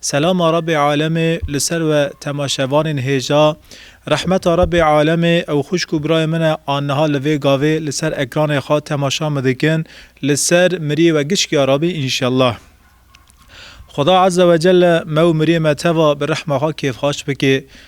Selama Rebê Alemê li ser we temaşevanên hêja, Rehmeta Rebê Alemê, ew xwişk û birayên min e an niha li vê gavê li ser ekranê xwe temaşa min dikin, li ser miriyê we giç ya rabî înşellah. Xuda Ezzewecelle me û miriyê me teva bi rehma xwe kêfxaş bike.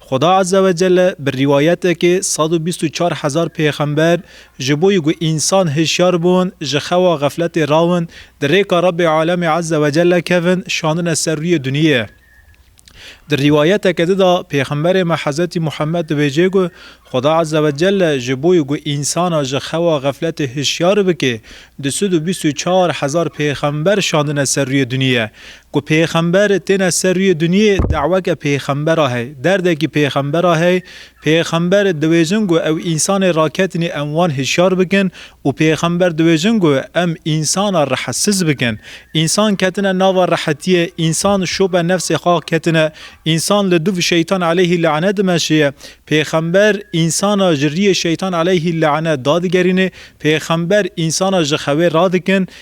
Xuda Azze ve Celle bi rîwayetekê sed û bîst û çar hezar pêxember ji bo yi ku însan hişyar bûn, ji xewa xefletê rawin, di rêka Rebê Alemê Azze ve Celle kevin, şandine ser rûyê duniyê. Di rîwayeteke di de pêxemberê me Hezretî Muhemmed dibêje ku Xuda Azze ve Celle ji bo yi ku însana ji xewa xefletê hişyar bike, du sed û bîst û çar hezar pêxember şandine ser rûyê duniyê. Ku pêxember têne ser rûyê dinyê daweke pêxembera hey, derdekî pêxembera hey, pêxember diwêjin ku ew însanê raketinî em wan hişyar bikin û pêxember diwêjin ku em însana rehetsiz bikin. Însan ketine nava rehetiyê, însan şope nefsê xwe ketine, însan li dûv şeytan eleyhî lane dimeşiye. Pêxember însana ji rîyê şeytan eleyhî lane dadigerîne, pêxember însana ji xewê radikin,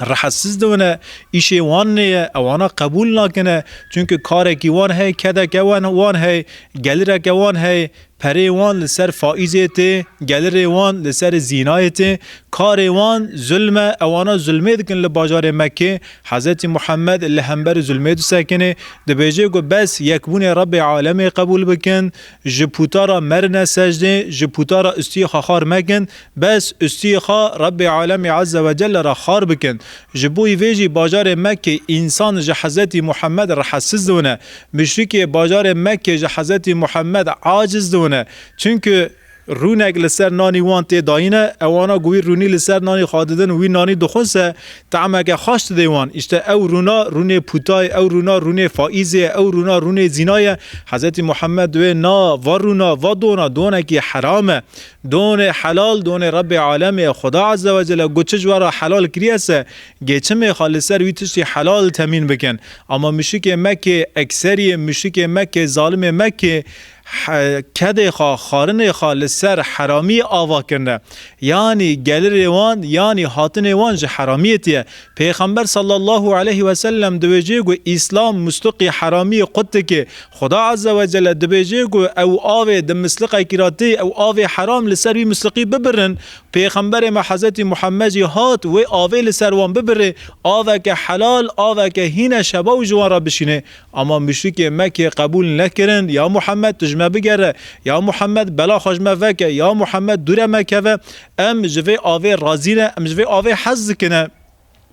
rehesiz dibine, îşê wan neye, ew ana qebûl nakine, çunki karekî wan heye, kedeke wan heye, gelireke wan heye, perê wan li ser faîzê tê, gelirê wan li ser zînayê tê, karê wan zulm e, ew ana zulmê dikin li bajarê Mekkê, Hezretî Muhammed li hember zulmê disekinê, dibêje ku bes yekbûnê Rebbê Alemê qebûl bikin, Ji puta ra merine secdê, ji puta ra ustiyê xwe xar mekin, bes ustiyê xwe Rebbê Alemî Eze ve Celle ra xar bikin. Ji bo vê jî bajarê Mekkê însan ji Hezretî Muhammed rehetsiz dibine. Muşrikê bajarê Mekkê ji Hezretî Muhammed aciz dibine. Çunku rûnek li ser nanî wan tê dayine, ewana ku wî rûnî li ser nanî xwe didin û wî nanî dixwise, Te'meke xweş didê wan. Îşte ew rûna rûnê pûta ye, ew rûna rûnê faîzê ye, ew rûna rûnê zîna ye. Hezretî Muhammed wê na va rûna, va dona, donekî heram e. Donê helal, donê Rebbê Alemê ye. Xuda Azze ve Celle got çi ji we re helal kiriye se, gêçimê xwe li ser wî tiştî helal temîn bikin. Ama muşrikê Mekkê, ekseriyê muşrikê Mekkê, zalimê Mekkê He kedê xwe, xwarinê xwe li ser heramiyê ava kirine. Yanî gelirê wan, yanî hatinê wan ji heramiyetî ye. Pêxember sallallahu aleyh we sellem di wê cihê ku Îslam mûsliqî heramiyê qut dike, Xuda azze we celle di wê cihê ku ew avê di misliqekî re tê, ew avê heram li ser wî misliqî bibirin. Pêxemberê me Hezretî Muhemmed jî hat wê avê li ser wan bibirê, aveke helal, aveke hîne şebaw ji wan re bişînê. Ama muşrikê Mekê qebûl nekirin, ya Muhammed tu ji me bigere, ya Muhammed bela xwe ji me veke, ya Muhammed dûre me keve, em ji vê avê razî ne, em ji vê avê hez dikine.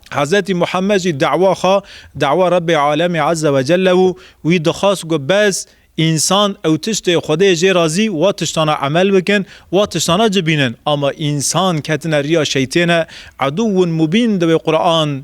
Hezretî Muhammed jî dewa xwe, dewa Rebbê Alemî Eze ve Celle bû, wî dixwast ku bes însan ew tiştê Xwedê jê razî wa tiştana emel bikin, wa tiştana cibînin. Ama însan ketine riya şeytêne, edûwun mubîn di wê Quran.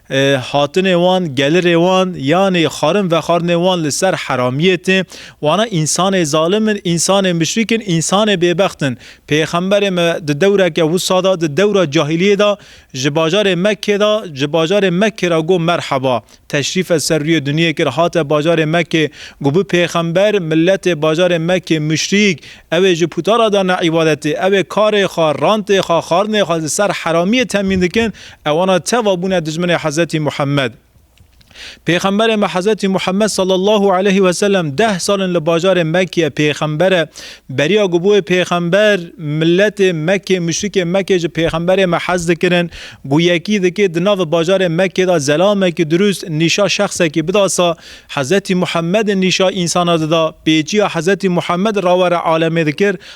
Hatinê wan, gelirê wan, yanî xwarin vexwarinê wan li ser heramiyê tê. Wana însanê zalim in, însanê muşrîk in, însanê bêbext in. Pêxemberê me di dewreke wisa de, di dewra cahiliyê de ji bajarê Mekkê de, ji bajarê Mekkê re got merheba. Teşrîfe ser rûyê dinyê kir, hate bajarê Mekkê. Got bi pêxember, miletê bajarê Mekkê muşrîk, ew ê ji pûtara de ne îbadetê, ew ê karê xwe, rantê xwe, xwarinê xwe li ser heramiyê temîn dikin, Ewana teva bûne dijminê Hezretî Muhammed. Pêxemberê me Hezretî Muhammed sallallahu aleyhi ve sellem deh sal in li bajarê Mekkeyê pêxember e. Beriya ku bûye pêxember miletê Mekkê muşrikê Mekkê ji pêxemberê me hez dikirin ku yekî dikê di navê bajarê Mekkê de zelamekî dirûst nîşa şexsekî bidasa Hezretî Muhammedê nîşa însana dida pêçiya Hezretî Muhammed rawere alemê dikir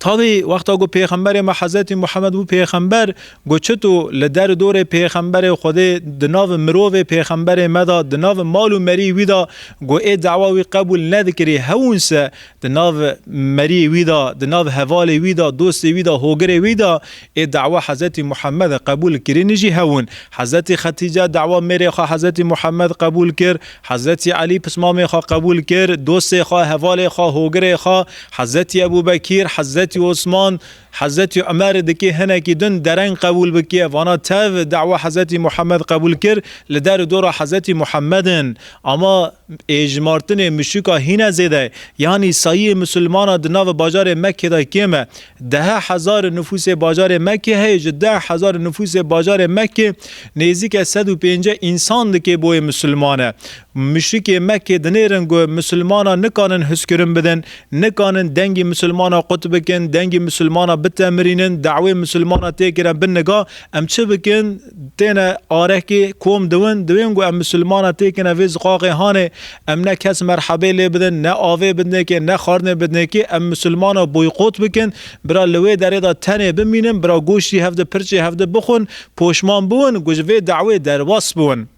Tavî wexta ku pêxemberê me Hezretî Muhemed bû pêxember ku çit û li der û dorê pêxemberê Xwedê di nav mirovê pêxemberê me de di nav mal û merî wî de ku ê dewa wî qebûl nedikirî hewûnse di nav merî wî de di nav hevalê wî de dostê wî de hogirê wî de ê dewa Hezretî Muhemede qebûl kirînî jî hewûn Hezretî Xetîce dewa mêrê xwe Hezretî Muhemed qebûl kir Hezretî Elî pismamê xwe qebûl kir, dostê xwe, hevalê xwe, hogirê xwe, Hezretî Ebû Bekîr, Hezretî Osman, Hezretî Umer di kê hinekî din dereng qebûl bikiye. Vana tev dawa Hezretî Muhammed qebûl kir, li der û dora Hezretî Muhammed in. Ama êjmartinê muşûka hîne zêde ye. Yanî sayiyê musulmanan di nava bajarê Mekkê de kêm e. Dehe hezar nifûsê bajarê Mekkê heye ji deh hezar nifûsê bajarê Mekkê nêzîke sed û pênceh însan dikê boyê misilman e. Muşrikê Mekkê dinêrin ku misilmanan nikanin hizkirin bidin, nikanin dengê misilmanan qut bikin, dengê misilmanan bitemirînin, dawê misilmanan tê kirin bi niga em çi bikin, Têne arekê kom diwin, diwên ku em misilmana têkine vê ziqaqê hanê, em ne kes merhebê lê bidin, ne avê bidnêkê, ne xwarinê bidnêkê, em misilmana boykot bikin, bira li wê derê de tenê bimînin, bira goştî hev di, pirçê hev di bixwin, poşman biwin ku ji vê dawê derbas biwin.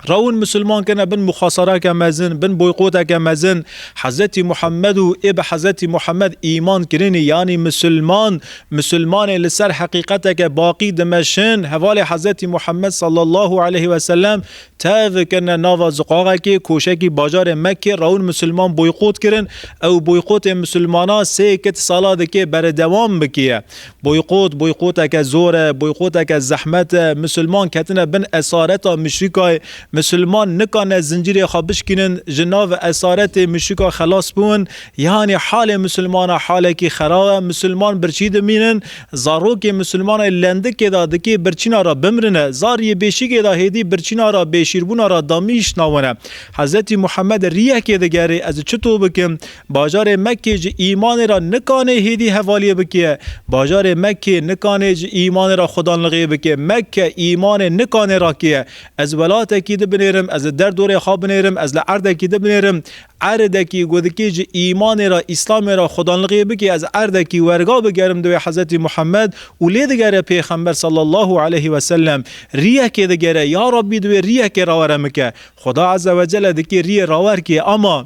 Rewin Musulman kene bin muxasareke mezin, bin boykoteke mezin. Hezretî Muhammed û ê bi Hezretî Muhammed îman kirinî yanî Musulman, Musulmanê li ser heqîqeteke baqî dimeşin, hevalê Hezretî Muhammed sallallahu aleyh ve selem tev kirine nava ziqaxekê, koşekî bajarê Mekkê rewin Musulman boykot kirin, ew boykotê Musulmanan sê kit sala dikê beredewam bikiye. Boykot, boykoteke zor e, boykoteke zehmet e, misilman ketine bin esareta müşrikayê, misilman nikane zincîrê xwe bişkînin, ji nav esaretê müşrika xelas bûn, yanî halê misilmana halekî xerab e, misilman birçî dimînin, zarokê misilmanê lendikê de dikê birçîna re bimrine, zar yê bêşîgê de hêdî birçîna re bêşîrbûna re damîştna wan e. Hezretî Muhammed rîyekê digerê, ez çi to bikim? Bajarê Mekkê ji îmanê re nikanê hêdî hevaliyê bikê. Bajarê Mekkê nikanê ji îmanê re xwedanlixê bikê. Mekke îmanê nikanê re kê. Ez welatekî di binêrim, ez li derdorê xwe binêrim, ez li erdekî di binêrim. Erdekî ku dikê ji îmanê re, îslamê re xwedanlixê bikê, ez erdekî werga bigerim di wê Hezretî Muhammed û lê digere Pêxember sallallahu aleyhi ve sellem. Riyekê digere, ya Rabbî di wê riyekê rawere min ke. Xweda Ezzewecelle dikê riyê rawer kê ama.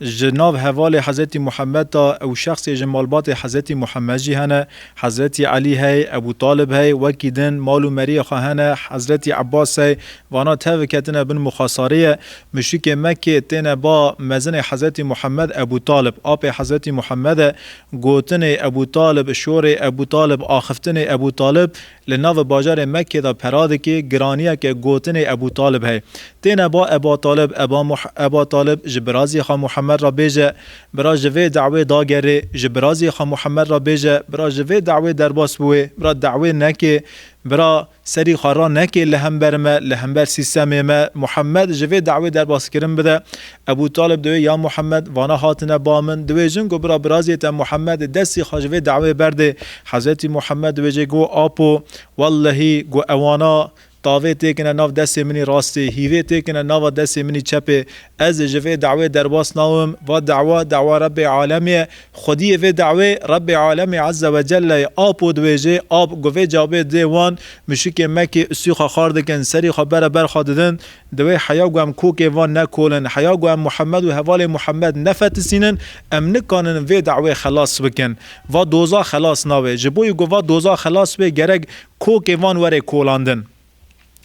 Ji nav hevalê Hezretî Muhammed de ew şexsê ji malbatê Hezretî Muhammed jî hene, Hezretî Elî hey, Ebû Talib hey, wekî din mal û meriyê xwe hene, Hezretî Ebbas hey, vana tev ketine bin muxasariyê. Muşrikê Mekkê têne ba mezinê Hezretî Muhammed Ebû Talib, apê Hezretî Muhammede, gotinê Ebû Talib, şorê Ebû Talib, axiftinê Ebû Talib, Li nav bajarê Mekkê de peradikê giraniyeke gotinê Ebû Talib hey. Têne ba Eba Talib, Eba Muh, Eba Talib ji birazî xwe Muhemmed re bêje, Bira ji vê dawê dagerê, ji birazî xwe Muhemmed re bêje, Bira ji vê dawê derbas biwê, bira dawê nekê, bira serî xwe ranekê li hember me, li hember sîstemê me, Muhemmed ji vê dawê derbaskirin bide, Ebû Talib diwê ya Muhammed, vana hatine ba min, diwê jin ku bira biraziyê te Muhammed, destî xwe ji vê daweyê berdê. Hezretî Muhammed diwê jê got, Apo, wellehî ku ewana, tavê têkine nav destê minî rastê, hîvê têkine nava destê minî çepê. Ez ê ji vê daweyê derbas nawim. Va dawa, dawa Rebbê Alemî ye. Xwediyê vê dawê, Rebbê Alemî Ezze ve Celle ye. Apo diwê jê, ap, ku vê cavê didê wan, muşikên Mekkê, ûsî xwe xar dikin, serî xwe bere ber xwe didin, Divê heya ku em kokê van nekolin, heya ku em Muhemed û hevalên Muhemed nefetisînin, em nikanin vê dawê xelas bikin. Va doza xelas nabe. Ji bo ku va doza xelas be gerek kokê van were kolandin.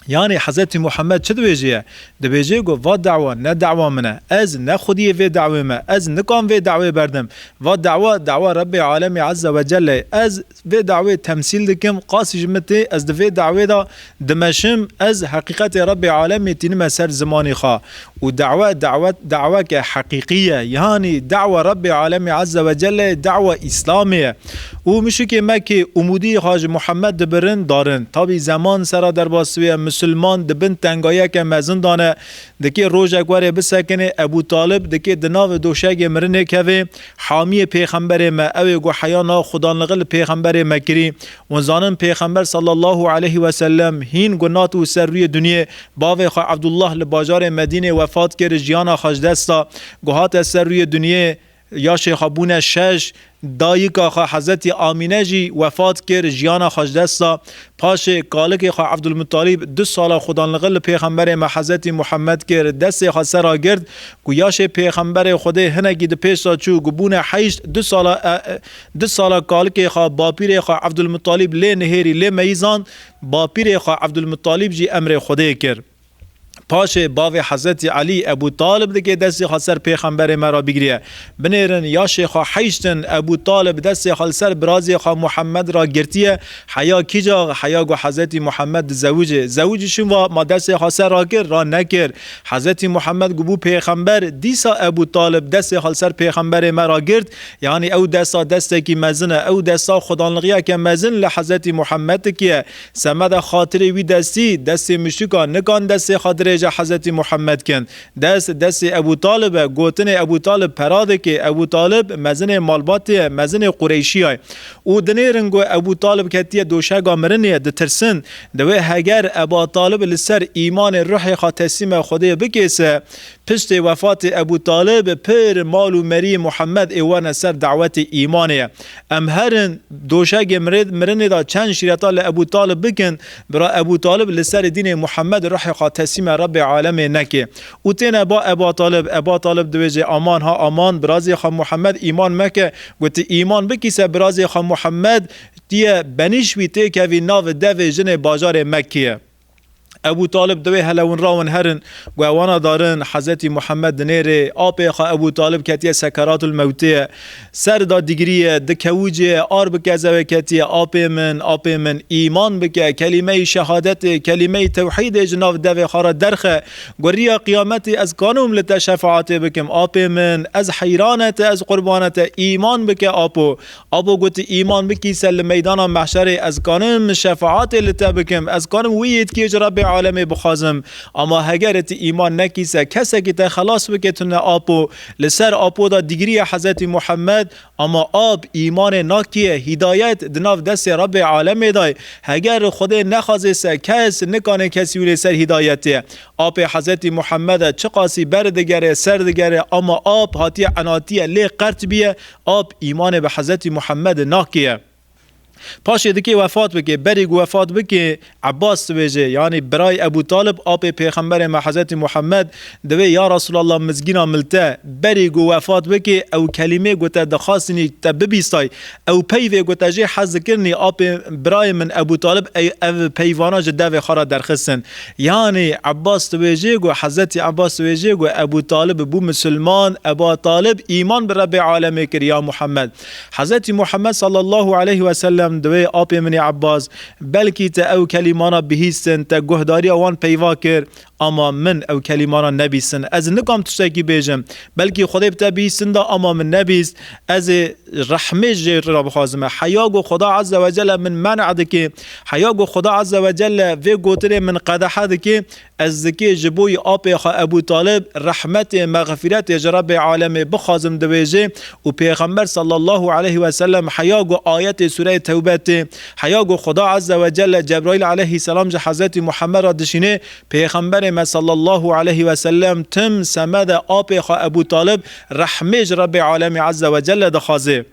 Yanî Hezretî Muhemed çi dibêjeye? Dibêje ku va dawa ne dawa min e. Ez ne xwediyê vê dawê me. Ez nikan vê dawê berdim. Va dawa, dawa Rebbê Alemî Ezze Wecelle ye. Ez Vê dawê temsîl dikim, qasî ji min tê, ez di vê dawê de dimeşim, ez heqîqetê Rebbê Alemê tînime ser zimanê xwe û dawe dawet daweke heqîqî ye, yanî dawa Rebbê Alemê Ezze ve Celle ye, dawa Îslamê ye û muşikê me kê umûdiyê xwe ji Muhammed dibirin, darin. Tabî zeman sera derbasbûye, musulman di bin tengayeke mezin de ne, dikê rojek were bisekinê, Ebû Talib dikê di navê doşegê mirinê kevê, Hamiyê pêxemberê me, ew ê ku heya nav xudanligi li pêxemberê me kirî û zanin pêxember sallallahu aleyh we sellem hîn gunat û ser rûyê dunyê bavê xwe Abdullah li bajarê Medînê wefat kir jiyana xwe ji dest da ku hate ser rûyê dunyê yaşê xwe bûne şeş dayika xwe Hezretî Amîne jî wefat kir jiyana xwe ji dest da Paşê kalikê xwe Evdulmuttalîb du sala xwedanligil li pêxemberê me Hezretî Muhemmed kir, destê xwe ser re girt, ku yaşê pêxemberê Xwedê hinekî di pêş re çû, ku bûne heşt, du sala du sala kalikê xwe bapîrê xwe Evdulmuttalîb lê nihêrî lê meyîzand, bapîrê xwe Evdulmuttalîb jî emrê Xwedê kir. Paşê bavê Hezretî Elî, Ebû Talib dike destê xwe ser pêxemberê me re bigiriye. Binêrin yaşê xwe heyştin. Ebû Talib destê xwe li ser birazê xwe Muhemed re girtiye. Heya kîja? Heya ku Hezretî Muhemed dizewicê. Zewicî şûn va, Ma destê xwe ser re kir? Ra nekir. Hezretî Muhemed ku bû pêxember, dîsa Ebû Talib destê xwe li ser pêxemberê me re girt. Yanî ew desta destekî mezin e. Ew desta xwedanlixiyeke mezin li Hezretî Muhemed dikiye. Semeda xatirê wî destî, destê muşrîkan nikan destê xwe dirêje Hezretî Muhammed kin. Dest, destê Ebû Talib e, gotinê Ebû Talib pera dikê. Ebû Talib, mezinê malbatê ye, mezinê Qureyşîyay. Û dinêrin ku Ebû Talib ketiye doşega mirinê, ditirsin. Divê heger Eba Talib li ser îmanê ruhê xwe teslîme Xwedê bikê se. Piştê wefatê Ebû Talib, pir mal û merî Muhammed ê werne ser dawetê îmanê. Em herin doşegê mirinê de çend şîreta li Ebû Talib bikin, bira Ebû Talib li serê dînê Muhammed ruhê xwe teslîma Rebbê Alemê neke û têne ba Eba Talib. Eba Talib diwêjê Aman ha Aman, birazê xwe Muhammed îman meke. Goti îman bikî ser birazê xwe Muhammed, tu ye benîş wî têkevî navê devê jinê bajarê Mekkê ye. Ebû Talib divê helewinra wan herin ku ew wana darin, Hezretî Muhemed di nêrê apê xwe Ebû Talib ketiye sekeratul mewtê ye, ser da digiriye, di kewicê ye, ar bi kezewê ketiye, Apê min, apê min, îman bike, kelîmeyî şehadetê, kelîmeyî tewhîdê ji nav devê xwe re derxe, ku riya qiyametê ez kanom li te şefaetê bikim, apê min, ez heyrane te, ez qurbane te, îman bike, apo. Abo got, Îman bikî ser li meydana mehşerê, ez karim şefaatê li te bikim, ez karim wî yêtkiyê ji Rebê alemê bixwazim. Ama hegeri ti îman nekî ser kesekî te xelas bike tune apo, li ser apo de digiriye Hezretî Muhammed, ama ap, îmanê nakiye, hîdayet, di nav destê Rebê alemê de ye. Heger Xwedê nexwazê se kes nikanê kesî wînê ser hîdayetê. Apê Hezretî Muhammede çiqasî beri digere, ser digere ama ap hatiye enatiye lê qert biye Ap, îmanê bi Hezretî Muhemedê nakê ye. Paşê dikê wefat bikê. Berî ku wefat bikê, Ebas dibêje, yanî birayê Ebû Talib, apê pêxemberê me Hezretî Muhemed, divê ya Resûlallah mizgîna min li te. Berî ku wefat bikê, ew kelîmê ku te dixwastinî te bibîstay, ew peyvê ku te jê hez dikirinî, apê birayê min Ebû Talib ev peyvana ji devê xwe re derxistin. Yanî Ebas dibêje ku Hezretî Ebas dibêje ku Ebû Talib bû misilman, Eba Talib îman bi Rebbê Alemê kir ya Muhammed. Hezretî Muhammed sallallahu aleyh ve sellem di wê apê min ê Ebas, belkî te ew kelîmana bihîstin, te guhdarîya wan peyva kir, ama min ew kelîmana nebîstin. Ez nikam tiştekî bêjim. Belkî Xwedê bi te bihîstin da, ama min nebîst. Ez ê rehmê ji cihê te re bixwazime. Heya ku Xweda Ezzewecelle min men'a dike Heya ku Xuda Azze ve Celle vê gotinê min qedehe dike, ez dikê ji bo yê apê xwe Ebû Talib rehmetê, mexfîretê ji Rebbê Alemê bixwazim diwêje û Pêxember Sallallahu Eleyhi Weselem heya ku ayetê sûreyê Tewbe tê, heya ku Xuda Azze ve Celle Cebraîl Eleyhi Selam ji Hezretî Muhemmed re dişînê, Pêxemberê me Sallallahu Eleyhi Weselem tim semede apê xwe Ebû Talib rehmê ji Rebbê Alemê Azze ve Celle dixwaze.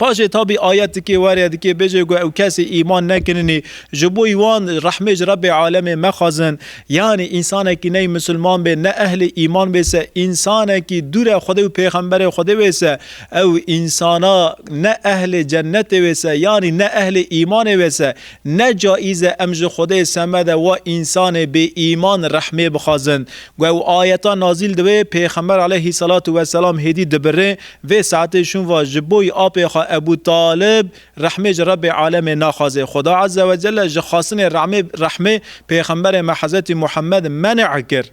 Paşê tabî ayet dikê werê dikê bêjê ku ew kesê îman nekirinî ji bo wan rehmê ji Rebbê alemê mexwazin. Yanî însanekî ney misilman bê ne ehlê îman bê se însanekî dûre Xwedê û pêxemberê Xwedê wê se ew însana ne ehlê cennetê wê se yanî ne ehlê îmanê wê se ne caîz e em ji Xwedê semede wa însanê bêîman rehmê bixwazin. Ku ew ayeta nazîl divê pêxember aleyhî selatû weselam hêdî dibirê Vê saetê şûnva ji boî apê xwe Ebû Talib rehmê ji Rebbê Alemê naxwazê. Xuda Eze we Celle ji xwastinê remê rehmê pêxemberê me Hezretî Muhammed menê kir.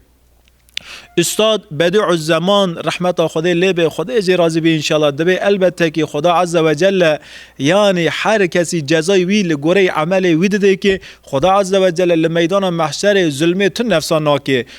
Ustad Bedî'uzzeman rehmeta Xwedê lê be Xwedê jê razî be înşallah divê elbetekî Xuda Eze we Celle yanî her kesî cezayê wî li goreyê emelê wî didê kê. Xuda Eze we Celle li meydana mehşerê zulmê tu nefsan nakê.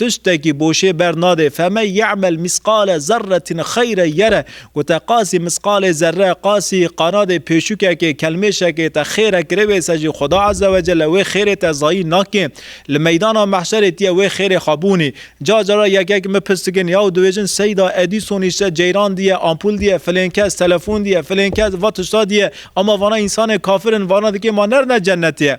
Tiştekî boşê ber nade, feme ye'mel mîsqale zerretin xeyre yere, gote qasî mîsqalê zerre, qasî, qanadê pêşûkekê, kelmêşekê, te xêre kirê wê ser jî Xweda Eze ve Celle wê xêrê te zayî nakê. Li meydana mehşerê tîye wê xêrê xwe bûnî. Car cara yekek min pirs dikin ya û dibêjin Seyda Edîson îşte ceyran dîye, ampul dîye, filên kes, telefon dîye, filên kes, va tişta dîye, ema vana însanên kafir in, vana dikê ma nerine cennetê.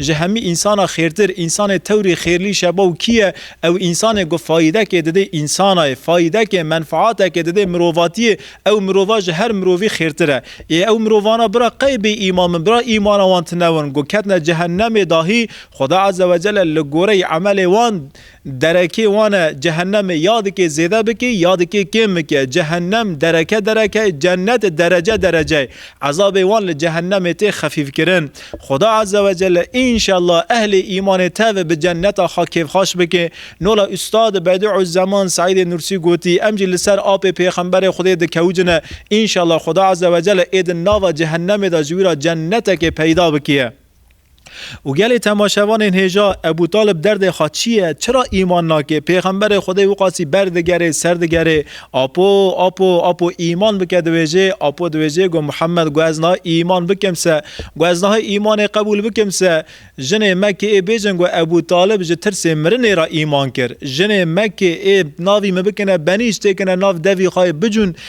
Ji hemî însana xêrtir, însanê tewrî xêrlî şebaw kî ye? Ew însanê ku fayîdekê didê însanayê, fayîdekê, menfaatekê didê mirovatiyê, ew mirova ji her mirovî xêrtir e. Ê ew mirovana bira qey bêîman bin, bira îmana wan tunewin ku ketine cehennemê dahî, Xweda Ezzewecelle li goreyî emelê wan, Derekê wan e, cehennemê ya dikê zêde bikê ya dikê kêm bike. Cehennem dereke dereke ye, cennet derece derece ye. Ezabê wan li cehennemê tê xefîfkirin. Xuda Eze ve Celle înşella ehlê îmanê tevê bi cenneta xwe kêfxaş bike. Nola Ustad Bediüzzeman Seîdê Nursî gotî, em jî li ser apê Pêxemberê Xwedê dikewicine. Înşella Xuda Eze ve Celle ê di nava cehennemê de ji wî re cennetekê peyda bikiye. Û gelê temaşevanên hêja, Ebû Talib derdê xwe çi ye, çira îman nake, pêxemberê Xwedê wixasî ber digerê, ser digerê, Apo, Apo, Apo îman bike diwêjê, Apo diwêjê go Muhammed go ez niha îman bikim se, go ez niha îmanê qebûl bikim se, jinê Mekke ê bêjin go Ebû Talib ji tirsê mirinê re îman kir, jinê Mekke ê navî min bikine benîş têkine nav devî xwe yê bicûn,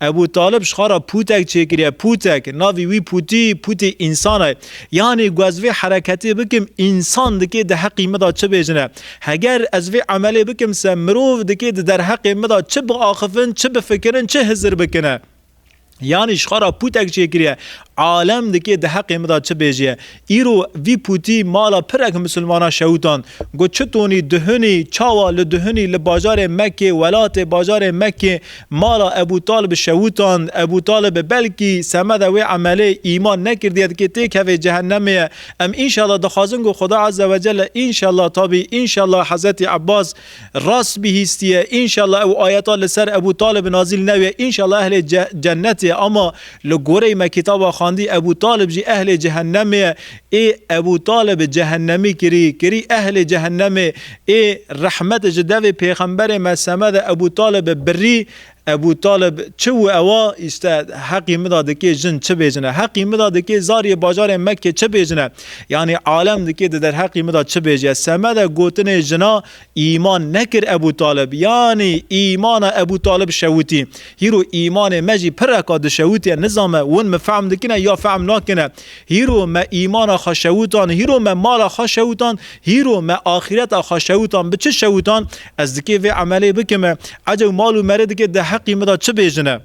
Ebû Talib ji xwe re pûtek çêkiriye, pûtek, navî wî Pûtî, Pûtî însan e. Yanî ku ez vê hereketê bikim, însan dikê di heqî min de çi bêjine? Heger ez vê emelê bikim se mirov dikê di derheqê min de çi biaxivin, çi bifikirin, çi hizir bikine? Yanî ji xwe re pûtek çêkiriye, Alem dikê di heqê min de çi bêjîye. Îro vî pûtî mala pirek misilmanan şewitand. Got çi tonî duhunî çawa li duhunî li bajarê Mekkê welatê bajarê Mekkê mala Ebû Talibi şewitand. Ebû Talibi belkî semeda wê emelê îman nekirdiye dikê têkevê cehenemê ye. Em înşallah dixwazin ku Xuda Azze Wecelle înşallah tabî înşallah Hezretî Ebas Rast bihîstiye înşallah ew ayeta li ser Ebû Talib nazîl nebiye înşallah ehlê cennet ye ama li goreyê me kitaba xwendî Ebû Talib jî ehlê cehennemê ye ê Ebû Talib cehennemî kirî kirî ehlê cehennemê ê rehmet ji devê pêxemberê me semede Ebû Talib birî Ebû Talib, Çi wû ewa? Îşte heqî mida dikê jin çi bêjine, heqî mida dikê zariyê bajarê Mekkê çi bêjine, yanî alem dikê di derheqî mida çi bêje. Semede gotinê jina îman nekir Ebû Talib, yanî îmana Ebû Talib şewitî. Hîro îmanê me jî pireka dişewitiye, nizame win min fehm dikine ya fehm nakine. Hîro me îmana xwe şewitan, hîro me mala xwe şewitan, hîro me axîreta xwe şewitan. Bi çi şewitan? Ez dikê vê emelê bikim e. Ecew mal û merê dikê di heqî min de çi bêjin e.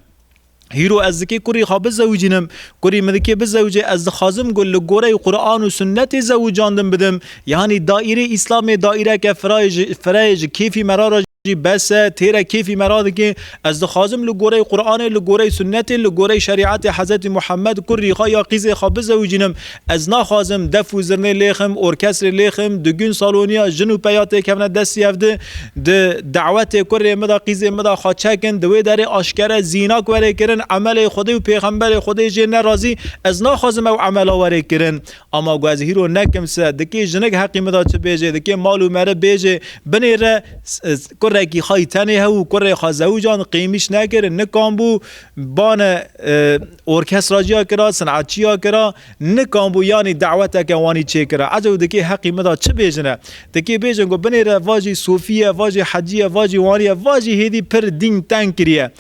Hîro ez dikê kurî xwe bizewicînim. Kurî min dikê bizewicê ez dixwazim ku li goreyê Quran û Sunnetê zewicandin bidim. Yanî daîreyê Îslamê daîreke fira ye ji fireyê ji kêfî me ra re jî bes e. Têre kêfî me ra dikê Ez dixwazim li gorey Quranê, li gorey Sunnetê, li gorey şerîetê Hezretî Muhammed, kurrî xwe ya qîzê xwe bizewicînim. Ez naxwazim def û zirnê lêxim, orkestrê lêxim, di gund saloniya jin û peya têkevne destî hev di, di dewetê kurrê min de, qîzê min de xwe çekin, di wê derê aşkere zînak were kirin, emelê Xwedê û pêxemberê Xwedê jê nerazî, ez naxwazim ew emela were kirin. Ama ku ez hîro nekim se, dikê jinik heqî min da çi bêjê, dikê mal û meriv bêjê, binê re kurekî xayî tenê hew û kurê xwe zewcan qêmîş nekirin, nikan bû bane orkestra ciya kira, sinet ciya kira, nikan bû yanî daweteke wanî çêkira. Ez ew dikê heqî min da çi bêjine? Dikê bêjin ku binê re vajî sofî ye, vajî hecî ye, vajî wanî ye, vajî hêdî pir dîn teng kiriye.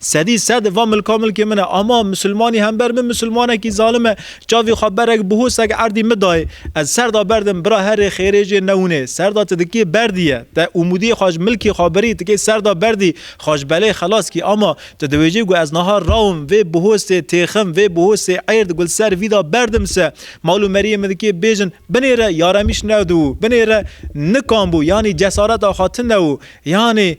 Sedî sed va milka milkê min e. Ama misilmanî hember min misilmanekî zalim e. Çavî xwe berek bihosek erdî min dayê. Ez serda berdim bira herê xêrê jê newinê. Serda ti dikê berdî ye. Te umûdiyê xwe ji milkê xwe birî ti kê serda berdî. Xwe ji belê xelas kî. Ama ti diwêjî ku ez niha rawim vê bihosê têxim vê bihosê êrd gul ser vî da berdim se. Mal û meriyê min dikê bêjin binêre yaremîş newdibû. Binêre nikanbû. Yanî cesareta xwe tune û yanî.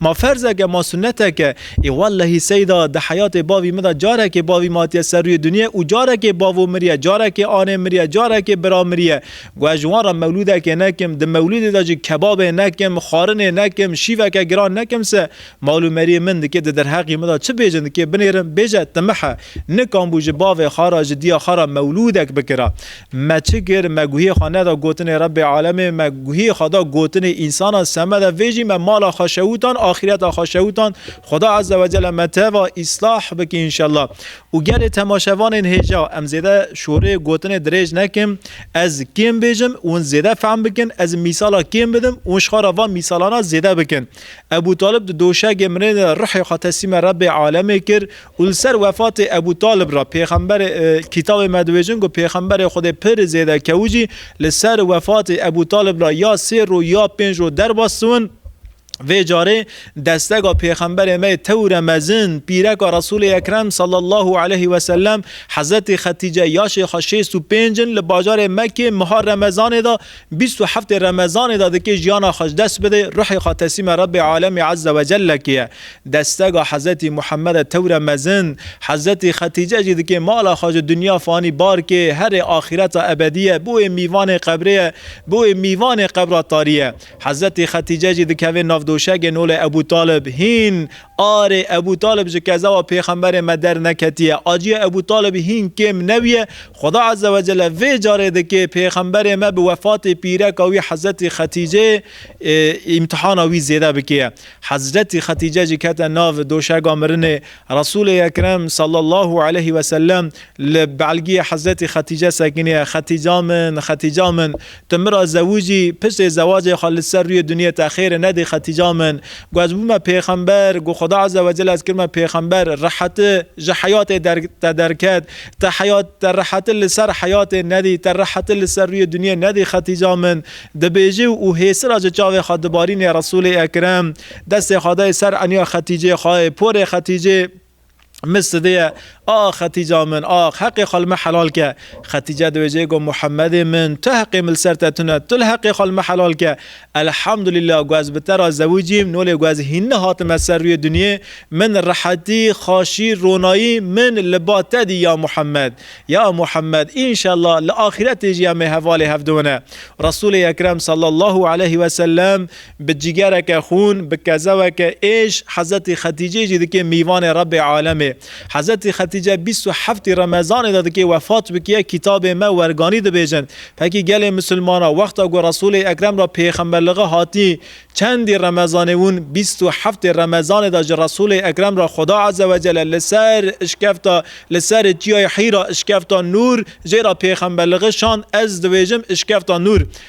Ma ferzeke, ma sunneteke, ê wellehî Seyda, di heyatê bavî min de carekê bavî min hatiye ser rûyê dinyê û carekê bavo miriye, carekê anê miriye, carekê bira miriye. Ku ez ji wan re mewlûdekê nekim, di mewlûdê de jî kebabê nekim, xwarinê nekim, şîveke giran nekim se, mal û meriyê min dikê di derheqî min de çi bêjin dikê binêrin, bêje timih e. Nikan bû ji bavê xwe re, ji diya xwe re mewlûdek bikira. Me çi kir? Me guhiyê xwe neda gotinê Rebbê Alemê, me guhiyê xwe da gotinê însanan, semeda vê jî me mala xwe şewitand, axîreta xwe şewitand, Xweda Ezze Wecelle me teva îslah bike înşella. Û gelê temaşevanên hêja, em zêde şoreyê gotinê dirêj nekim, ez kêm bêjim, wan zêde fehm bikin, ez mîsala kêm bidim, wan şixara van mîsalana zêde bikin. Ebû Talib di doşegê mirê de ruhê xwe teslîmê Rebbê Alemê kir Û li ser wefatê Ebû Talib re pêxemberê Kîtabê me dibêjin ku pêxemberê Xwedê pir zêde kew jî li ser wefatê Ebû Talib re ya sê rû ya pênc rû derbas siwin, vê carê destega pêxemberê me yê tewre mezin, pîreka Resûlê Ekrem sallallahu aleyh we sellem, Hezretî Xetîce, yaşê xwe şêst û pênc in, li bajarê Mekkê meha Remezanê de Bîst û heftê remezanê de dikê jiyana xwe ji dest bidê, ruhê xwe teslîma Rebbê alemî ezze ve celle kê ye. Destega Hezretî Muhammede tewre mezin, Hezretî Xetîce jî dikê mala xwe ji dinya fanî bar kê, herê axîreta ebedî ye, bi wê mîvanê qebrê ye, bi wê mîvanê qebra tarî ye. Hezretî Xetîce jî dikevê nav doşegê nolê Ebû Talib, hîn, Arê Ebû Talib ji kezewa Pêxemberê me derneketiye. Acîya Ebû Talibî hîn kêm nebûye. Xweda Ezze Wecelle vê carê dikê Pêxemberê me bi wefatê pîreka wî Hezretî Xetîceyê îmtihana wî zêde bikêye. Hezretî Xetîce jî kete nav doşega mirinê. Resûlê Ekrem sallallahu aleyh wesellem li belgîyê Hezretî Xetîce sekiniye, Xetîca min, Xetîca min. Tu min ra zewij î, pirsê zewacê xwe li ser rûyê dinyê te xêr e nedê Xetîca min. Ku ez bûme pêxember, ku Xweda Eze Wecel ez kirime pêxember, reheti ji heyatê der te derket. Te heyat, te reheti li ser heyatê nedî, te reheti li ser rûyê dinyê nedî Xetîca min. Dibêje û hêsira ji çavê xwe dibarîne Resûlê Ekrem, destê xwe dayê ser eniya Xetîcê xwe, porê Xetîcê, Min sidiye, Ax Xetîca min, ax, heqê xwe li me helal ke. Xetîce di wê cihê got, Muhemedê min, tu heqê min li ser te tune, tu li heqê xwe li me helal ke. Elhamdulîla ku ez bi te re zewîc im, nolê ku ez hîn nehatime ser rûyê dinyê, min rehetî, xaşî, ronayî, min li ba te dî ya Muhemed. Ya Muhemed, înşella li axîretê jî em ê hevalê hev diwine. Resûlê Ekrem sallallahu aleyhi wesellem Bi cîgereke xûn, bi kezeweke êş Hezretî Xetîceyê jî dikê mîvanê Rebbê Alemê. Hezretî Xetîce bîst û heftî Remezanê de dikê wefat bikiye kitabê me werganî dibêjin. Pekî gelê misilmana wexta ku Resûlê Ekrem ra pêxemberliğe hatî çendî Remezanê wûn bîst û heftê Remezanê de ji Resûlê Ekrem ra Xuda Ezewecele li ser işkefta li serê çiyayê Hîra işkefta Nûr jê ra pêxemberliğe şand ez dibêjim işkefta Nûr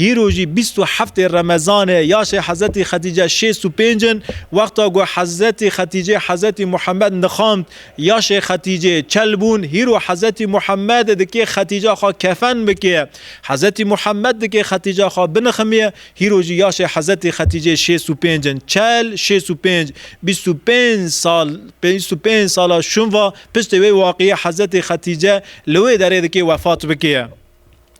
Hîro jî bîst û heftê Remezanê yaşê Hezretî Xetîce şêst û pênc in. Wexta ku Hezretî Xetîcê Hezretî Muhammed nixand, yaşê Xetîcê çel bûn. Hîro Hezretî Muhammedê dikê Xetîca xwe kefen bikê. Hezretî Muhammed dikê Xetîca xwe biniximîyê. Hîro jî yaşê Hezretî Xetîcê şêst û pênc in. Çel, şêst û pênc, bîst û pênc sal, bîst û pênc sala şûnva piştê wê waqîyê Hezretî Xetîce li wê derê dikê wefat bikê.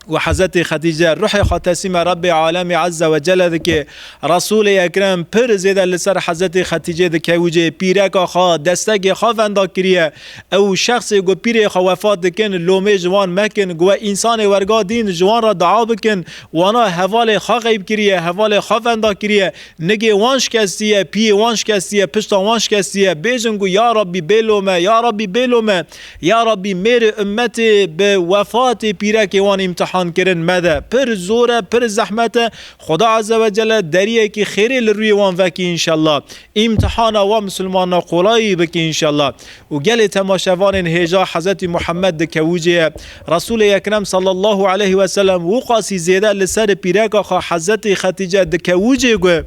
û Hezretê Xedîce ruhê xwe teslîma Rebbê Alemî Ezze ve Celle dike. Resûlê Ekrem pir zêde li ser Hezretê Xedîcê dikewicê, pîreka xwe, destekê xwe venda kiriye. Ew şexsê ku pîrê xwe wefat dikin, lomê ji wan mekin, ku we însanê werga dîn ji wan re dua bikin, wana hevalê xwe xeyb kiriye, hevalê xwe venda kiriye, nigê wan şikestiye, piyê wan şikestiye, pişta wan şikestiye. Bêjin ku ya Rabbî bêlome, ya Rabbî bêlome. Ya Rabbî mêrê ummetê bi wefatê pîrekê wan îmtihan kirin mede. Pir zor e, pir zehmet e. Xuda Azze ve Celle deriyekî xêrê li rûyê wan vekî înşella. Îmtihana wan misilmanan qolayî bikî înşella. Û gelê temaşevanên hêja Hezretî Muhammed di kewûcê ye. Resûlê Ekrem sallallahu aleyhi ve sellem wû qasî zêde li ser pîreka xwe Hezretî Xetîce di kewûcê gue.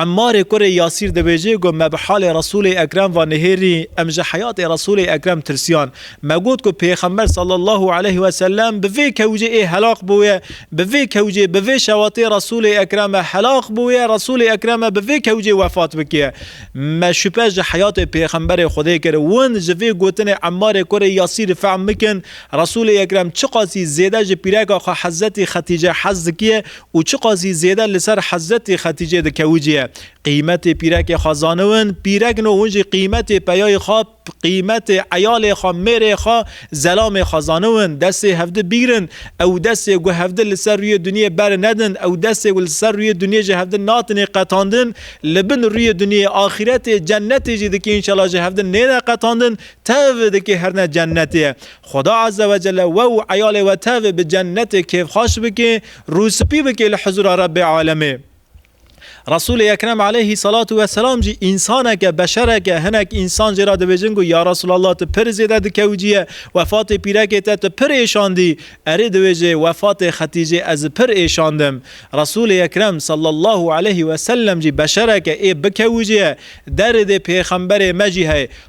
Emmarê kurê Yasîr dibêje ku me bi halê Resûlê Ekrem ve nihêrî, em ji heyatê Resûlê Ekrem tirsiyan. Me got ku Pêxember sallallahu aleyh we sellem bi vê kewcê ê helaq bûye, bi vê kewcê, bi vê şewatê Resûlê Ekrem e helaq bûye, Resûlê Ekrem e bi vê kewcê wefat bikiye. Me şupe ji heyatê Pêxemberê Xwedê kir. Win ji vê gotinê Emmarê kurê Yasîrî fehm bikin, Resûlê Ekrem çiqasî zêde ji pîreka xwe Hezetî Xetîce hez dikiye û çiqas jî zêde li ser Hezretê Xeticê dikewiciye. Qîmetê pîrekê xwe zaniwin, pîrek no hûn jî qîmetê peyayê xwe, qîmetê eyalê xwe, mêrê xwe, zelamê xwe zaniwin. Destê hevdi bigrin, ew destê ku hevdi li ser rûyê dinyê beri nedin, ew destê ku li ser rûyê dinyê ji hevdi natinê qetandin, li bin rûyê dinyê, axîretê, cennetê jî dike înşela ji hevdi nêne qetandin, tev dike her ne cennetê. Xweda Ezzewecelle we û eyalê we tev bi cennetê kêfxaş bike. Rû spî bike li hizûra Rebbê Alemê. Resûlê Ekrem aleyhî selatu we selam jî însaneke, beşereke, hinek însan jê re dibêjin ku ya Resûlallah tu pir zêde dikewciye, wefatê pîrekê te tu pir êşandî, erê dibêje wefatê Xetîcê ez pir êşandim. Resûlê Ekrem sallallahu aleyhî weselem jî beşereke ê bikewiciye, derê dê pêxemberê me jî heye.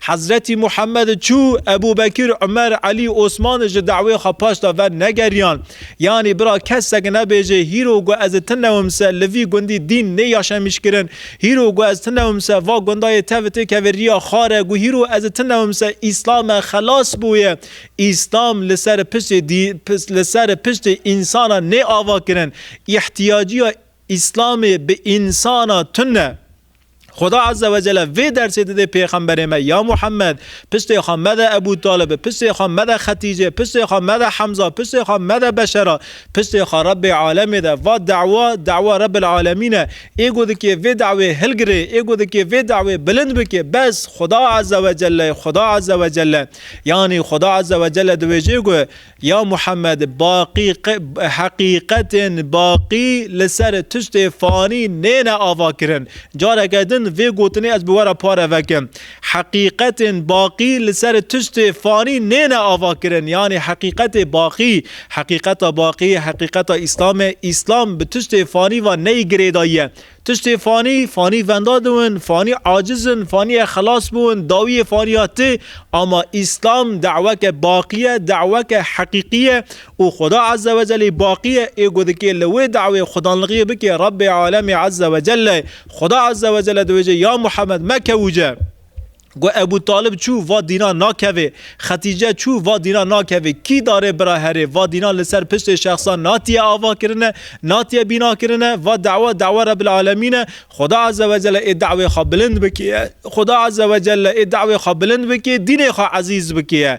Hezretî Muhammed çû, Ebû Bekir, Umer, Elî, Osman ji dawê xwe paş da ver negeriyan. Yanî bira kesek nebêje hîro ku ez tinewim se li vî gundî dîn nê yaşemîş kirin, hîro ku ez tinewim se va gundayê tev tê keve riya xar e ku hîro ez tinewim se Îslam e xelas bûye. Îslam li ser piştê dî li ser piştê însanan nê ava kirin. Îhtîyaciya Îslamê bi însana tune. Xuda Azze ve Celle vê dersê didê pêxemberê me ya Muhammed, piştê xwe mede Ebû Talibi, piştê xwe mede Xetîcê, piştê xwe mede Hemza, piştê xwe mede beşera, piştê xwe Rebbê Alemê de. Va dewa, dewa Rebbil Alemîn e. Ê ku dikê vê dewê hilgirê, ê ku dikê vê dewê bilind bikê, bes, Xuda Azze ve Celle, Xuda Azze ve Celle. Yanî Xuda Azze ve Celle diwêjê ku Ya Muhammed heqîqetên baqî li ser tiştê fanî nêne avakirin. Careke din vê gotinê ez bi we re pare vekim. Heqîqetên baqî li ser tiştê fanî nêne avakirin yanî heqîqetê baqî, heqîqeta baqî, heqîqeta Îslamê, Îslam bi tiştê fanî ve neyê girêdayî ye. Tiştê fanî, fanî venda diwin, fanî aciz in, faniyê xelas biwin, dawiyê faniya ti, ama Îslam daweke baqî ye, daweke heqîqî ye û Xuda Eze Wecelî baqî ye, ê ku dikê li wê dawê xudanlixiyê bikê Rebbê Alemî Eze Wecelle, Xuda Eze Wecelle diwêje ya Muhammed me kewûce. Got Ebû Talib çû va dînan nakevê, Xetîce çû va dînan nakevê, kî darê bira herê, va dînan li ser piştê şexsan natiye ava kirine, natiye bîna kirine, va dewa dewa Rebil Alemîn e, Xuda Eze Wecelle ê dewê xwe bilind bikî, Xuda Eze Wecelle ê dewê xwe bilind bikî, dînê xwe ezîz bikî ye.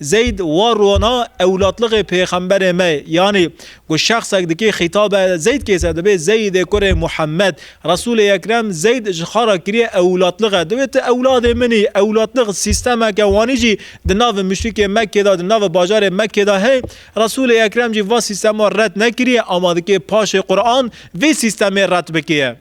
Zeyd wa rona ewlatliqê pêxemberê me yanî ku şexsek dikê xîtabe Zeyd kêse dibê Zeydê kurê Muhammed. Resûlê Ekrem Zeyd ji xwe re kiriye ewlatliqe dibê tu ewladê min î. Ewlatliq sîstemeke wanî jî di navê muşrikê Mekkê de di navê bajarê Mekkê de heye. Resûlê Ekrem jî va sîstema red nekiriye ama dikê paşê Quran vê sîstemê red bikiye.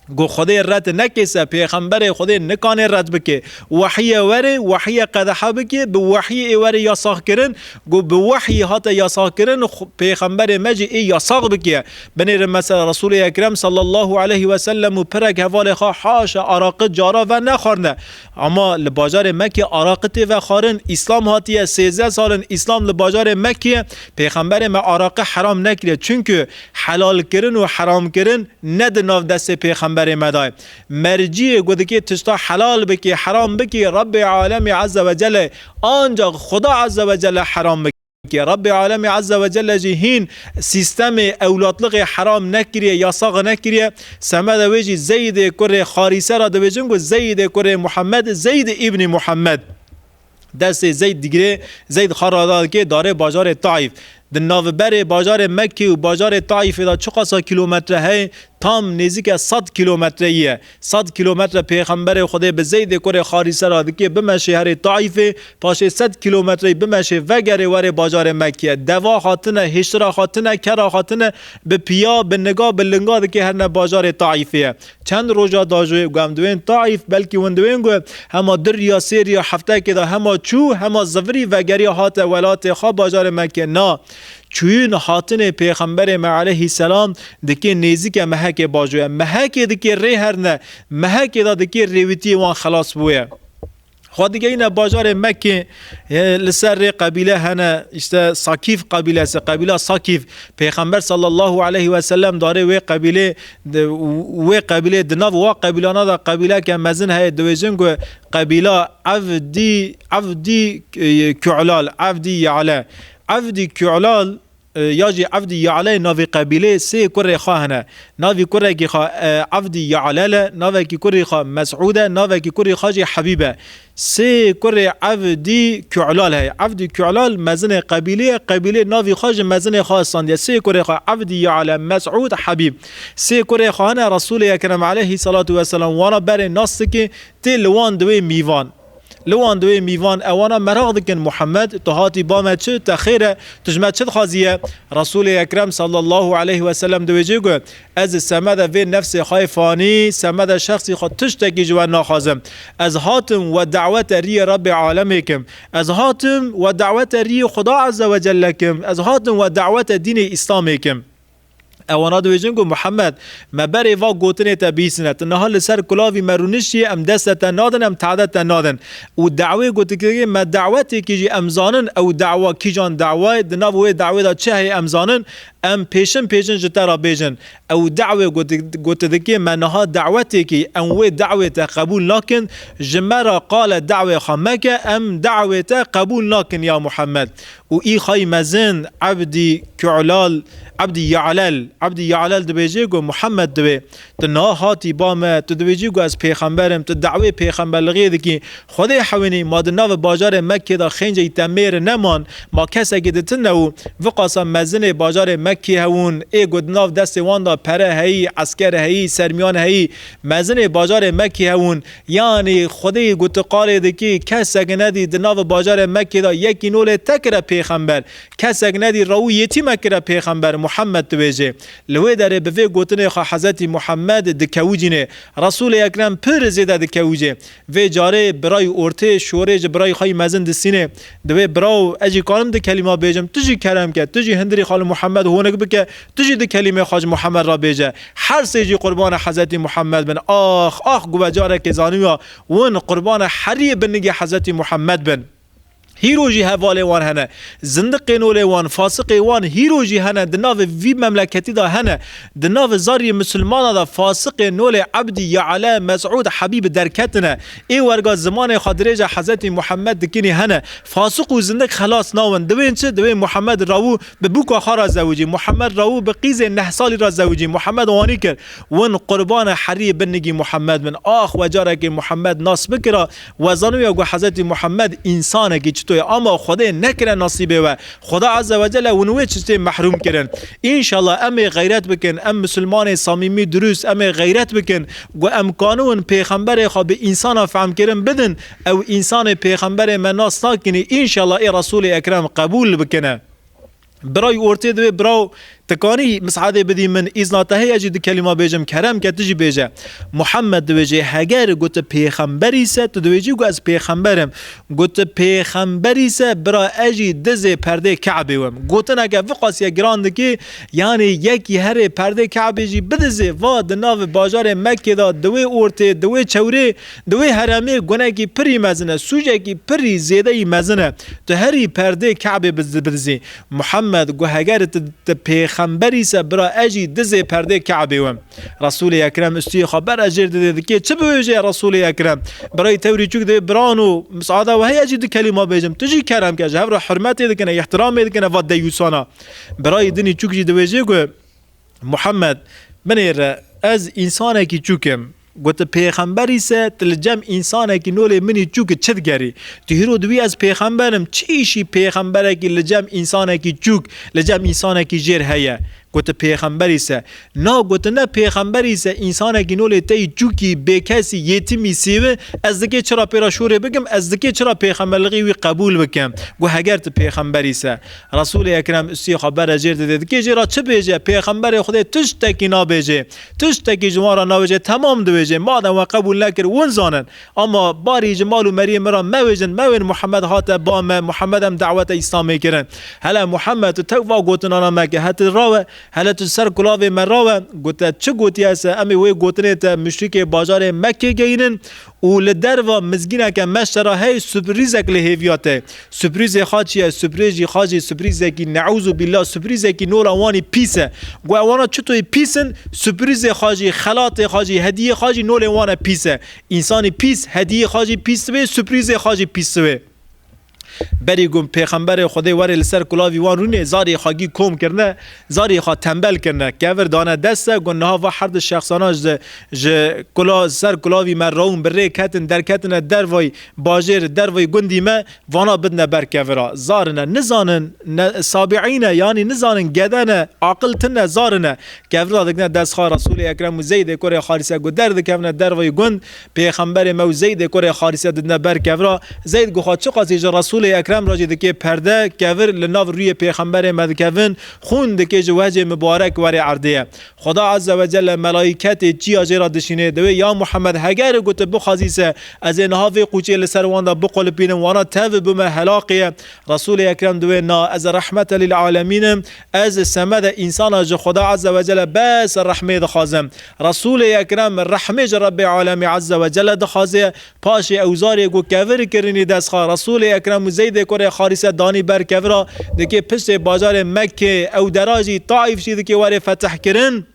Ku Xwedê red neke se pêxemberê Xwedê nikanê red bike. Wehîye were, wehîye qedexe bike, bi wehî ê were yasax kirin. Ku bi wehî hate yasax kirin pêxemberê me jî ê yasax bike. Binêrin mesela Resûlê Ekrem sallallahu aleyhi weselem û pirek hevalê xwe haşa araqi cara ve nexwarine. Ama li bajarê Mekkê araqi tê vexwarin, Îslam hatiye, sêzdeh sal in Îslam li bajarê Mekkê ye, pêxemberê me araqi heram nekiriye, çunku helalkirin û heramkirin ne di nav destê pêxemberê me de ye. Merciyê ku dikê tişta helal bikê, heram bikê, Rabbê Alemî Ezze Wecelle ye, ancax Xuda Ezze Wecelle heram bikê. Ke Rabbê Alemî Ezze ve Celle jî hîn sîstemê ewlatliqê heram nekiriye, yasax nekiriye. Semeda wê jî Zeydê kurê Xarîse ra dibêjin ku Zeydê kurê Muhammed Zeyd îbnî Muhammed. Destê Zeyd digirê, Zeyd xwe rada dike darê bajarê Taîf. Di naviberê bajarê Mekkê û bajarê Taîfê de çiqasa kîlometre heye? Tam nêzîke sed kîlometreyî ye. Sed kîlometre pêxemberê Xwedê bi Zeydê kurê Xarîse re dikê bime şêherê Taîfê, paşê sed kîlometreyî bime şê vegerê were bajarê Mekkîye. Deva xwe tine, hiştira xwe tine, kera xwe tine, bi pîya, bi niga, bi linga dikê herine bajarê Taîfîye. Çend roja da jû ku em diwên Taîf, belkî win diwên ku hema du rîya sê rîya hefteyekê da hema çû hema zivirî vegerîya hate welatê xwe bajarê Mekkîye. Na! Çûyîn hatinê pêxemberê me eleyhî selam dikê nêzîke mehekê bajoye. Mehekê dikê rê herne. Mehekê de dikê rêwîtiyê wan xelas bûye. Xwe digeyne bajarê Mekkê li ser rê qebîle hene îşte Sakîf qebîlesi, qebîla Sakîf. Pêxember sallallahu eleyhî weselem darê wê qebîlê wê qebîlê di nav wa qebîlana de qebîleke mezin heye diwêjin ku qebîla Evdî Evdî Ku'lal, Evdî Ya'le. Evdî Kûlal ya jî Evdî Yalel navê qebîlê sê kurê xwe hene. Navî kurekî xwe Evdî Yalel e, navekî kurî xwe Mesûd e, navekî kurî xwe jî Hebîb e. Sê kurê Evdî Kûlal heye. Evdî Kûlal mezinê qebîlê ye, qebîlê navî xwe ji mezinê xwe istandiye. Sê kurê xwe Evdî Yalel, Mesûd, Hebîb. Sê kurê xwe hene Resûlê Ekrem eleyhî selatû weselam wana berê nas dike tê li wan di wê mîvan. Li wan duyê mîvan ewana meraq dikin Muhammed tu hatî ba me çi, te xêr e, tu ji me çi dixwazî ye? Resûlê Ekrem sallallahu aleyh we selem diwêjê ku ez di semeda vê nefsê xwe yê fanî, semeda şexsî xwe tiştekî ji we naxwazim. Ez hatim we dawete riyê Rebê alemê kim. Ez hatim we dawete riyê Xuda Ezzewecelle kim. Ez hatim we dawete dînê Îslamê kim. Ew wana dibêjin ku Muhammed, me berê va gotinê te bihîsine, tu niha li ser kulavî me rûniştiye, em deste te nadin, em tehded te nadin. Û dawê ku tu kiriye me dawetêkî jî em zanin ew dawa kîjan dawa ye, di nav wê dawê de çi heye em zanin, em pêşin pêşin ji te re bêjin. Ew dawê ku tu dikê me niha dawetêkî, em wê dawê te qebûl nakin, ji me re qale dawê xwe meke, em dawê te qebûl nakin ya Muhammed. Û îxayî mezin Ebdî Ku'lal, Ebdî Ya'lel, Ebdî Ya'lel dibêje ku Muhammed divê. Tu niha hatî ba me, tu dibêjî ku ez pêxember im, tu dewê pêxemberlixiyê dikî. Xwedê hewînî, ma di navê bajarê Mekkê de xênceyî te mêr neman, ma kesekî di tune û viqasa mezinê bajarê Mekkê hewûn, ê ku di nav destê wan de pere heyî, esker heyî, sermîyan heyî, mezinê bajarê Mekkê hewûn, Yanî Xwedê gotiqalê dikî, kesek nedî di navê bajarê Mekkê de yekî no lê te kire pêxember, kesek nedî rew û yetî me kire pêxember, Muhammed dibêjê. Li wê derê bi vê gotinê xwe Hezretî Muhammed dikewicînê. Resûlê Ekrem pir zêde dikewicê. Vê carê birayî ortê şorê ji birayî xwe yî mezin disînê. Di wê biraw, ez jî karim di kelîma bêjim, tu jî kerem ke, tu jî hindirî xali Muhammed honik bike, Tu jî du kelîme Xwacî Muhemed re bêje. Her sê jî qurbana Hezretî Muhemed bin. Ax, ax guve carekê zanîbûya win qurbana herî binigê Hezretî Muhemed bin. Hîro jî hevalê wan hene. Zindiqê nolê wan, fasiqê wan hîro jî hene, di navê vî memleketî de hene. Di navê zarîyê misilmanan de fasiqê nolê Ebdî, Yeale, Mesûd, Hebîb derketine. Ê werga zimanê xwe dirêje Hezretî Muhemed dikinî hene. Fasiq û zindiq xelas nabin. Diwên çi? Diwên Muhemed rawû Bi bûka xwe re zewicî Muhemed Raû bi qîzê neh salî re zewicî Muhemed wanî kir. Win qurbane herî bin nigî Muhemed bin. Ax we carekê Muhemed nas bikira we zanûye ku Hezretî Muhemed însanekî çito ye ama Xwedê nekire nasîbê we. Xweda Eze wecele win wê çitê mehrûm kirin. Înşela em ê xeyret bikin em misilmanê samîmî dirûst em ê xeyret bikin ku em kanûn pêxemberê xwe bi însanan fehmkirin bidin Ew însanê pêxemberê me nas nakinî înşallah ê Resûlê Ekrem qebûl bikine. Birayî ortê di wê biraw tikanî misadê bidî min îzna te heye jî du kelîma bêjim kerem ke tu jî bêje. Muhammed di wê jê heger got tu pêxemberî se tu di wê jî got ez pêxember im. Got tu pêxemberî se bira ez jî dizê perdê Kabê wim. Gotineke viqasîya giran dikê yanî yekî herê perdê Kabê jî bidizê va di navê bajarê Mekkê de di wê ortê di wê çewrê Di wê heremê gunekî pirî mezin e, sûcekî pirî zêdeyî mezin e. Tu herî perdê Kabê bidizî. Muhammed gu heger tu tu pêxemberî se bira ez jî dizê perdê Kabê wim. Resûlê Ekrem istûyê xwe bera jêr didê dikê çi biwêjê Resûlê Ekrem, birayî tewrî çûk divê biran û misada weheyê ez jî du kelîma bêjim. Tu jî kerem ke ji hev re hurmetê dikine, îhtîramê dikine va deyûsan a. Birayî dinî çûk jî diwêjê gu. Muhammed, Binê re, ez însanekî çûk im. Gotin, Pêxember îse, tu li cem însanekî nolê minî çûk çi digerî? Tu hîro di wî ez pêxember im, çi îşî pêxemberekî li cem însanekî çûk, li cem însanekî jêr heye? Gotin, Pêxember îse, Na, gotin ne pêxember îse însanekî nolê te yî çûkî, bêkesî, yêtimî, sêvi, ez dikê çira pê re şûrê bikim, ez dikê çira pêxemberliğî wî qebûl bikim? Got, Heger tu pêxember îse. Resûlê Ekrem ûstî xwe bere jêr dide, di kêjê re çi bêje? Pêxemberê Xwedê tiştekî nabêje, tiştekî ji wan re nabêje temam dibêje, madem we qebûl nekir win zanin. Ama barî ji mal û meriyê min re mewêjin, mewên Muhammed hate ba me, Muhammed em dawete Îslamê kirin. Hele Muhammed tu tewk va gotinana me ke he tu ra we, hele tu ji ser kulavê me ra we, gote çi gotiye se em ê wê gotinê te muşrîkê bajarê Mekkê geyînin, û li derva mizgîneke meşte re hey suprîzek li hêviya te. Suprîzê xwe çi ye? Suprîz jî xwe jî suprîzekî neûzû bîllah suprîzekî nora wan î pîs e. Gu ew wana çitoyê pîs in? Suprîzê xwe jî, xelatê xwe jî, hediyê xwe jî nolên wan e pîs e. Însanî pîs, hediyê xwe jî pîs dibe, suprîzê xwe jî pîs dibe. Berî ku Pêxemberê Xwedê werê li ser kulavî wan rûnê, zarê xwe gî kom kirine, zarê xwe tembel kirine, kevir dane deste ku niha va her du şexsana ji ji kula ser kulavî me rawin bi rê ketin, derketine dervayî bajêr, dervayî gundî me, vana bidine ber kevira. Zar in e, nizanin ne sabîîn e, yanî nizanin gede ne, aqil tune ne, zar in e. Kevira dikine dest xwe Resûlê Ekrem û Zeydê kurê Harise ku derdikevine dervayî gund, Pêxemberê me û Zeydê kurê Harise didine ber kevra, Zeyd guxa çiqasî ji Resûlê Ekrem re jî dikê perde, kevir li nav rûyê pêxemberê me dikevin, xûn dikê ji wehcê mibarek werê erdê ye. Xweda Eze wecelle melaîketê çiya jê re dişînê, diwê ya Muhemed heger û gote bixwazî se ez ê niha vê qûçê li ser wan de biqulipînim wana tevbûme helaqê ye, Resûlê Ekrem diwê na ez rehmete lîl alemîn im, Ez semedê însana ji Xweda Eze we Celle bes rehmê dixwazim. Resûlê Ekrem rehmê ji Rebbê Alemî Eze we Celle dixwazê. Paşê ewzarê ku kevir kirinî destxa Resûlê Ekrem û Zeydê kurê Harîse danî ber kevira dikê piştê bajarê Mekkê ew dera jî Taîf jî dikê warê fetihkirin.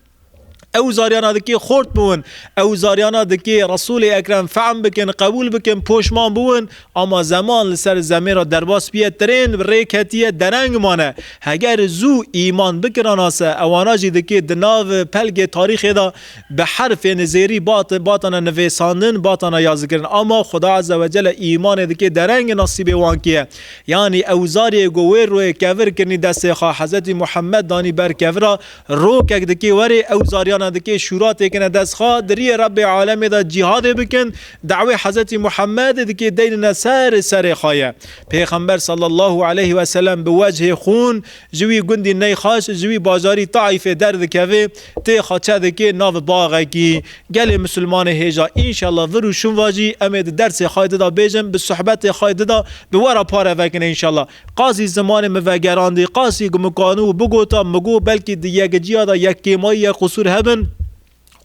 Ew zariyana dikê xort biwin, ew zariyana dikê Resûlê Ekrem fehm bikin, qebûl bikin, poşman biwin, ama zeman li ser zemê re derbas biye tirên bi rê ketiye dereng mane. Heger zû îman bikirana se, ewana jî dikê di nav pelgê tarîxê de bi herfên zêrî bat batane nivêsandin, batane yazikirin. Ama Xuda Eze we Celle îmanê dikê dereng nasîbê wan kiye. Yanî ew zariyê ku wê royê kevir kirinî destê xwe Hezretî Muhemmed danî ber kevira, Rokek dikê werê ew zaryana dikê şûra têkine dest xwe diriyê Rebê alemê de cîhadê bikin, dawê Hezretî Muhemedê dikê deynine ser serê xwe ye. Pêxember sallallahu aleyh weselem bi wecihê xûn ji wî gundî Neyxaş ji wî bajarî Taîfê derdikeve tê xwe çedikê nav baxekî. Gelê misilmanê hêja înşella vir û şûn vajî emê di dersê xwe dida bêjin bi suhbetê xwe dida bi wera pare vekine înşella. Qazî zimanê min vegerandî. Qazî gumikanu û bigota min got belkî di yekiciya de yek kêmayî yek qusûr hebin.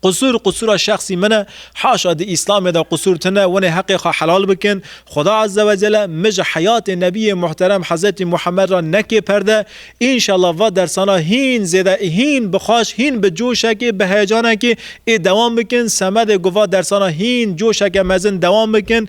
Qusûr, qusûra şexsî min e. Haşa di Îslamê de qusûr tune, winê heqê xwe helal bikin. Xuda Azze ve Celle min ji heyatê Nebiyê Muhterem Hezretî Muhammed re neke perde. Înşallah va dersana hîn zêde, hîn bi xwaş, hîn bi coşekê, bi heyecanekê ê dewam bikin. Semedê ku va dersana hîn coşeke mezin dewam bikin.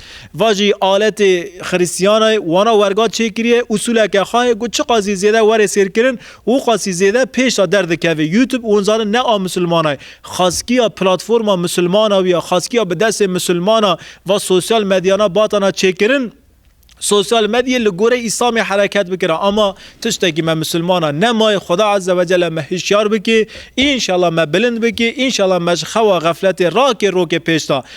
Va jî aletê Xirîstiyanayê wana werga çêkiriye usûleke xwe ye ku çiqasî zêde were sêrkirin û qasî zêde pêşda derdikeve. YouTube hûn zanin ne a misilmana ye. Xaskiya platforma misilmana wî ye. Xaskiya bi destê misilmana va sosyal medyana batana çêkirin. Sosyal medyê li gorî Îslamê hereket bikira ama tiştekî me misilmana nemaye. Xuda Eze Wecele me hişyar bike. Înşela me bilind bike. Înşela me ji xewa xefletê rakê rokê pêşda.